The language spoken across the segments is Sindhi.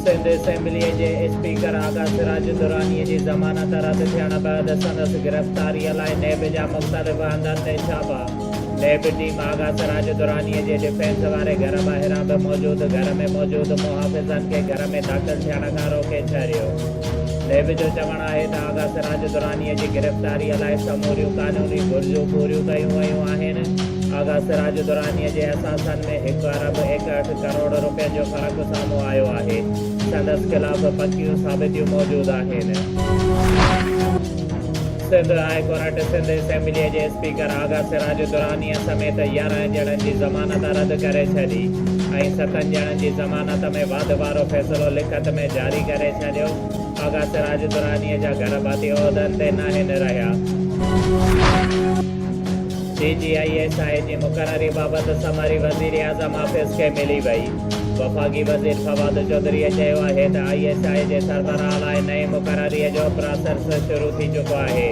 سنڌ اسيمبليء جي اسپيڪر آغا سراج الدرانيء جي ضمانت رد ٿيڻ بعد سندس گرفتاريء لاء نيب جا مختلف هنڌن تي ڇاپا، نيب ٽيم آغا سراج الدرانيء جي ڊفينس واري گهر ٻاهران به موجود گهر ۾ موجود محافظن کي گهر ۾ داخل ٿيڻ کان روڪي ڇڏيو. نيب جو چوڻ آهي ته آغا سراج الدرانيء جي گرفتاريء لاء سموريون قانوني گهرجون پوريون ڪيون ويون آهن، آغا سراج الدرانيء جي اثاثن ۾ هڪ ارب ايڪهٺ ڪروڙ روپين جو فرق سامهون آيو آهي، سندس خلاف پڪيون ثابتيون موجود آهن. سنڌ هاء ڪورٽ سنڌ اسيمبليء جي اسپيڪر آغا سراج الدرانيء سميت يارهن ڄڻن جي ضمانت رد ڪري ڇڏي ۽ ستن ڄڻن جي ضمانت ۾ واڌ وارو فيصلو لکت ۾ جاري ڪري ڇڏيو. آغا سراج الدرانيء جا گهر ڀاتي عهدن تي ناهن رهيا. سي جي آء ايس آء جي مقرري بابت سمري وزيراعظم آفيس کي ملي وئي. وفاقي وزير فواد چوڌريء چيو آهي ته آء ايس آء جي سربراهه لاء نئين مقرري جو پراسرس شروع ٿي چڪو آهي.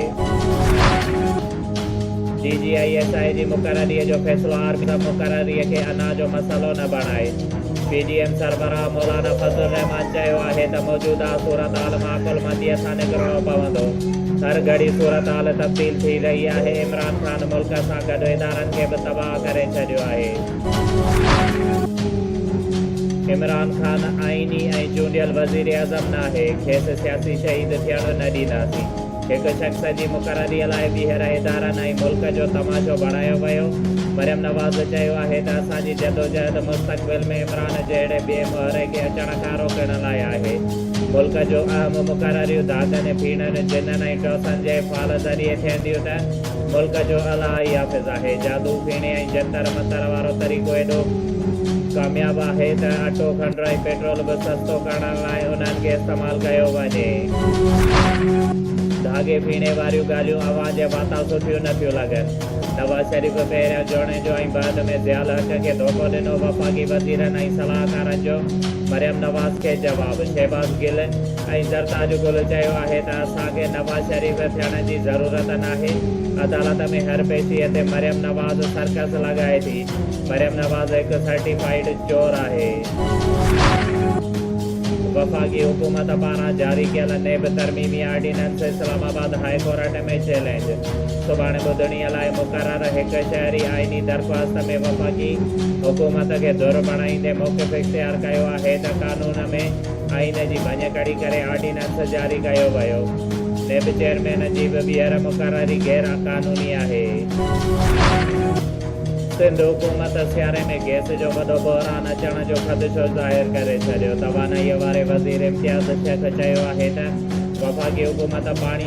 D G I S I جي مقرري جو فيصلو آرمي چيف مقرري کي انا جو مسئلو نه بڻائي. پي ڊي ايم سربراهه مولانا فضل الرحمان چيو آهي ته موجوده صورتحال معقولمنديء سان ڪنهن ڪرڻو پوندو. هر گهڙي صورتحال تبديل ٿي رهي آهي، عمران خان ملڪ سان گڏ ادارن کي به تباهه ڪري ڇڏيو آهي. عمران خان آئيني ۽ چونڊيل وزيراعظم ناهي، کيس سياسي شهيد ٿيڻ نه ڏينداسين. هڪ شخص جي مقرريء لاء ٻيهر ادارن ۽ ملڪ جو تماشو بڻايو ويو. مريم نواز چيو آهي ته اسان جي جدوجهد مستقبل ۾ عمران جهڙي ٻئي مهري کي اچڻ کان روڪڻ لاء آهي. ملڪ جون اهم مقرريون دادن، پيڻن، جنن ۽ ٽوسن جي فال ذريعي ٿين ٿيون ته ملڪ جو الاهي حافظ آهي. جادو، پيڻي ۽ جنتر منتر وارو طريقو ايڏو ڪامياب آهي ته اٽو، کنڊ ۽ پيٽرول به سستو ڪرڻ لاء انهن کي استعمال ڪيو وڃي. ڌاڳي پيڻي واريون ڳالهيون اوهان جي واتان سٺيون نه ٿيون لڳن. نواز شريف پهريان جوڻيجو ۽ بعد ۾ ضياء الحق کي ڌوڪو ڏنو، وفاقي وزيرن ۽ صلاحڪارن جو مريم نواز کي جواب، شهباز گل ۽ زرتاج گل چيو آهي ته اسان کي نواز شريف ٿيڻ جي ضرورت ناهي، عدالت ۾ هر پيشي تي مريم نواز سرڪس لڳائي ٿي، مريم نواز هڪ سرٽيفائيڊ چور آهي. وفاقي حڪومت پاران جاري ڪيل نيب ترميمي ordinance Islamabad high court ۾ challenge سڀاڻي ٻڌڻي لاء مقرر هڪ شهري آئيني درخواست ۾ وفاقي حڪومت کي ڌر بڻائيندي موقف اختيار ڪيو آهي ته قانون ۾ آئين جي ڀڃڪڙي ڪري آرڊيننس جاري ڪيو ويو نيب چيئرمين جي به ٻيهر مقرري غير قانوني آهي. سنڌ حڪومت سياري ۾ گئس جو وڏو بحران اچڻ جو خدشو ظاهر ڪري ڇڏيو توانائيء واري وزير امتياز شيخ چيو آهي ته وفاقي حڪومت پاڻي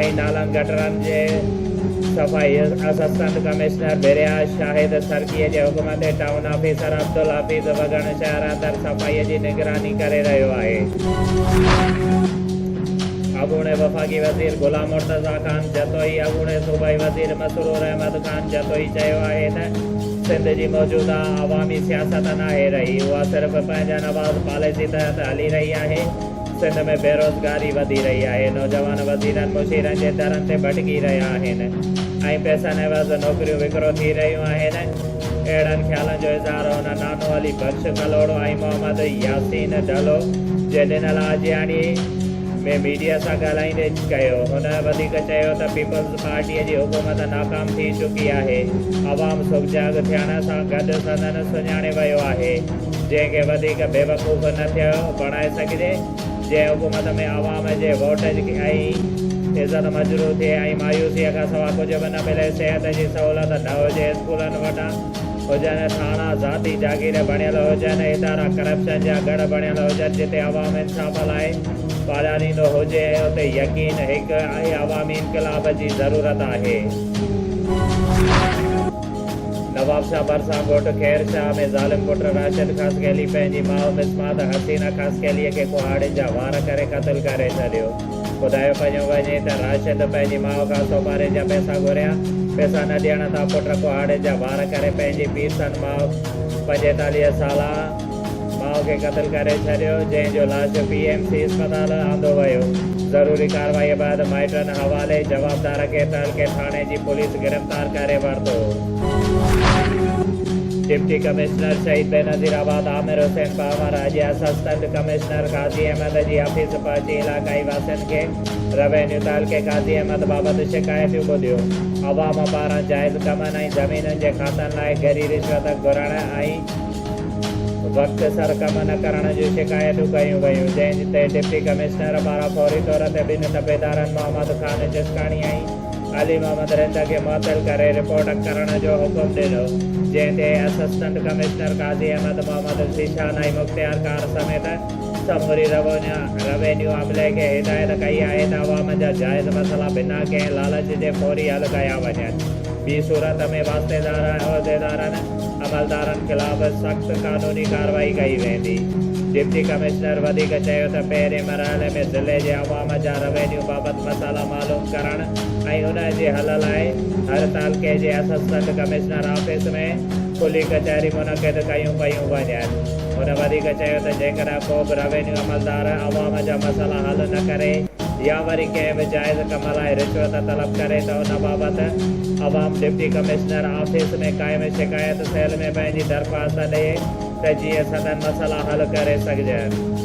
۽ نالن گٽرن جي صفائي اسسٽنٽ ڪمشنر ڀريا شاهد سرڪي جي حڪم تي ٽائون آفيسر عبدالحفيظ وڳڻ شهر اندر صفائي جي نگراني ڪري رهيو آهي. اڳوڻي وفاقي وزير غلام مرتضيٰ خان جتوئي اڳوڻي صوبائي وزير مسرور احمد خان جتوئي چيو آهي ته سنڌ جي موجوده عوامي سياست ناهي رهي اها صرف پنهنجن آواز پاليسي تحت هلي رهي آهي. سنڌ ۾ بيروزگاري وڌي رهي آهي، نوجوان وزيرن مشيرن جي درن تي ڀٽڪي رهيا آهن ۽ پئسن عيوض نوڪريون وڪرو ٿي رهيون آهن، اهڙن خيالن جو اظهار هن نانو علي بخش ڪلهوڙو ۽ محمد ياسين ڍلو جي ڏنل آجياڻي ۾ ميڊيا سان ڳالهائيندي ڪيو، هن وڌيڪ چيو ته پيپلز پارٽي جي حڪومت ناڪام ٿي چڪي آهي، عوام سگجاڳ ٿيڻ سان گڏ سندن سڃاڻي ويو آهي. جنهن کي وڌيڪ بيوقوف نه ٿئي بڻائي سگهجي، جنهن حڪومت ۾ عوام جي ووٽ ۽ عزت مجروح ٿئي ۽ مايوسيء کان سوا ڪجهه به نه ملي، صحت جي سهولت نه هجي، اسڪولن وٽان هجن، ٿاڻا ذاتي جاگير بڻيل هجن، ادارا ڪرپشن جا ڳڙهه بڻيل هجن، جتي عوام انصاف لاء پاڙياريندو هجي، اتي يقين هڪ آهي، عوامي انقلاب جي ضرورت آهي. نوابشاهه ڀرسان ڳوٺ خير شاهه ۾ ظالم پٽ راشد خاصخيلي پنهنجي ماء مصمات حسينه خاصخيلي کي ڪهاڙين جا وار ڪري قتل ڪري ڇڏيو. ٻڌايو پيو وڃي ته راشد پنهنجي ماء کان سومارين جا پئسا گهريا، پئسا نه ڏيڻ تان پٽ ڪهاڙين جا وار ڪري پنهنجي پيء سان ماء پنجيتاليهه سالا، ماء کي قتل ڪري ڇڏيو، جنهن جو لاش پي ايم سي اسپتال آندو ويو، ضروري ڪارروائي بعد مائٽن حوالي، جوابدار کي تعلقي ٿاڻي جي پوليس گرفتار ڪري ورتو. ڊپٽي ڪمشنر شهيد بينظير آباد عامر حسين پنهور اڄ اسسٽنٽ ڪمشنر قاضي احمد جي آفيس پهچي علاقائي واسين کي روينيو تعلقي قاضي احمد بابت شڪايتيون ٻڌيون، عوام پاران جائز ڪمن ۽ زمينن جي کاتن لاء گري رشوت گهرڻ ۽. وقت سر ڪم نه ڪرڻ جون شڪايتون ڪيون ويون جنهن تي ڊپٽي ڪمشنر پاران فوري طور تي ٻن تپيدارن محمد خان جسڪاڻي ۽ علي محمد رند کي معطل ڪري رپورٽ ڪرڻ جو حڪم ڏنو جنهن تي اسسٽنٽ ڪمشنر قاضي احمد محمد ذيشان ۽ مختيارڪار سميت سموري روينيو عملي کي هدايت ڪئي آهي ته عوام جا جائز مسئلا بنا ڪنهن لالچ جي فوري حل ڪيا وڃن ٻي صورت ۾ واسطيدار ۽ عهديدارن عملدارن خلاف سخت قانوني ڪارروائي ڪئي ويندي. ڊپٽي ڪمشنر وڌيڪ چيو ته پهرين مرحلي ۾ ضلعي جي عوام جا روينيو بابت مسئلا معلوم ڪرڻ ۽ انهن جي حل لاء هر تعلقي جي اسسٽنٽ ڪمشنر آفيس ۾ کلي ڪچهري منعقد ڪيون پيون وڃن. هن وڌيڪ چيو ته جيڪڏهن ڪو به روينيو عملدار عوام جا مسئلا حل نه ڪري، يا وري ڪنهن به جائز ڪم لاء رشوت طلب ڪري ته ان بابت عوام ڊپٽي ڪمشنر آفيس ۾ قائم شڪايت سيل ۾ پنهنجي درخواست ڏئي ته جيئن سندن مسئلا حل ڪري سگهجن.